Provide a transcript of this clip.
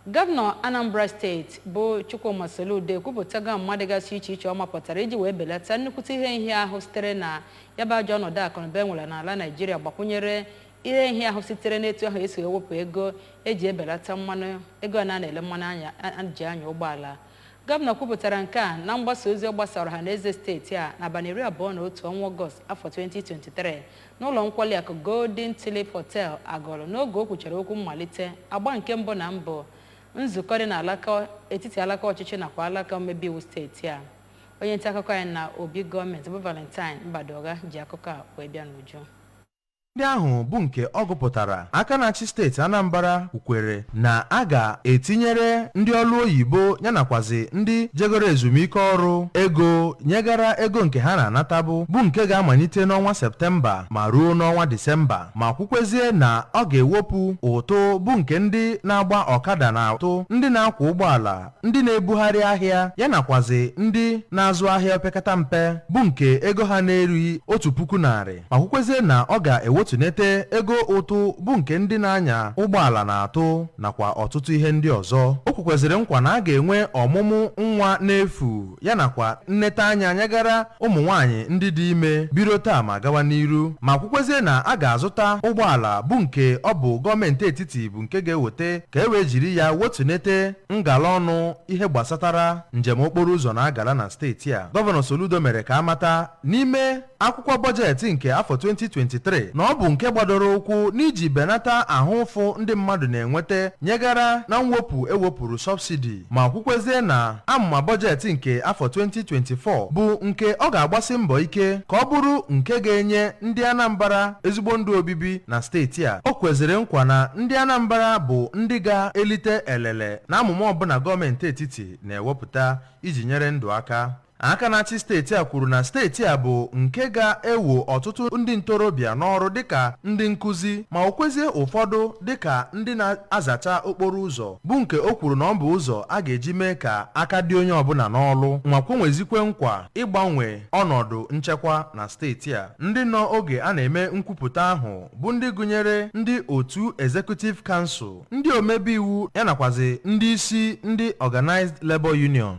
Gọvanọ Anambra steeti bụ Chukwuma Soludo ekwupụtago amụma dịgasị iche iche ọ mapụtara iji wee belata nnukwute ihe nhịahụ sitere na ya bụ ajọ ọnọdụ akụnụba e nwere n'ala Naịjirịa gbakwunyere ihe nhịahụ sitere n'etu ahụ esi wee wepụ ego eji ebelata mmanụ ego a na-ele mmanụ a ji anya ụgbọala. Gọvanọ kwupụtara nke a na mgbasa ozi ọ gbasara ọha na eze steeti a n'abalị iri abụọ na otu ọnwa Ọgọst afọ 2023 n'ụlọ nkwali akụ Golden Tulip Hotel Agụlụ n'oge o kwuchara okwu mmalite agba nke mbụ na mbụ nzukọ dị n'alaka etiti alaka ọchịchị nakwa alaka omebe iwu steeti a onye nta akụkọ anyị na obi gọọmenti bụ Valentine Mbadugha ji akụkọ a wee bịa n'uju ndị ahụ bụ nke ọ gụpụtara aka na-achị steeti Anambra kwukwere na a ga-etinyere ndị ọrụ oyibo ya nakwazi ndị jegoro ezumike ọrụ ego nyegara ego nke ha na-anatabu bụ nke ga-amalite n'ọnwa Septemba ma ruo n'ọnwa Disemba ma kwukwezie na ọ ga-ewepụ ụtụ bụ nke ndị na-agba ọkada na-atụ ndị na-akwọ ụgbọala ndị na-ebugharị ahịa ya nakwazi ndị na-azụ ahịa opekata mpe bụ nke ego ha na-erughị otu puku narị ma kwukwezie na ọ ga-ewetunete ego ụtụ bụ nke ndị na-anya ụgbọala na-atụ nakwa ọtụtụ ihe ndị ọzọ o kwekweziri nkwa na a ga-enwe ọmụmụ nwa n'efu ya nakwa nneta anya nyegara ụmụ nwaanyị ndị dị ime biro taa ma gawa n'iru ma kwukwezie na a ga-azụta ụgbọala bụ nke ọ bụ gọọmenti etiti bụ nke ga-eweta ka e wee jiri ya wetunete ngala ọnụ ihe gbasatara njem okporo ụzọ na-agala na steeti a gọvanọ Soludo mere ka a mata n'ime akwụkwọ bọjetị nke afọ 2023 na ọ bụ nke gbadoro ụkwụ n'iji benata ahụ ụfụ ndị mmadụ na-enweta nyegara na mwepụ ewepụrụ sọbsidi ma kwukwezie na amụma bọjetị nke afọ 2024 bụ nke ọ ga-agbasi mbọ ike ka ọ bụrụ nke ga-enye ndị Anambra ezigbo ndụ obibi na steeti a. O kweziri nkwa na ndị Anambra bụ ndị ga-elite elele na amụma ọbụla gọọmenti etiti na-ewepụta iji nyere ndụ aka. Aka na-achị steeti a kwuru na steeti a bụ nke ga-ewo ọtụtụ ndị ntorobịa n'ọrụ dịka ndị nkụzi ma wokwezie ụfọdụ dịka ndị na-azacha okporo ụzọ bụ nke o kwuru na ọ bụ ụzọ a ga-eji mee ka aka dị onye ọbụla n'ọlụ ma kwenwezikwe nkwa ịgbanwe ọnọdụ nchekwa na steeti a. Ndị nọ oge a na-eme nkwupụta ahụ bụ ndị gụnyere ndị otu Executive Council, ndị omebe iwu ya nakwazi ndị isi ndị Organised Labour Union.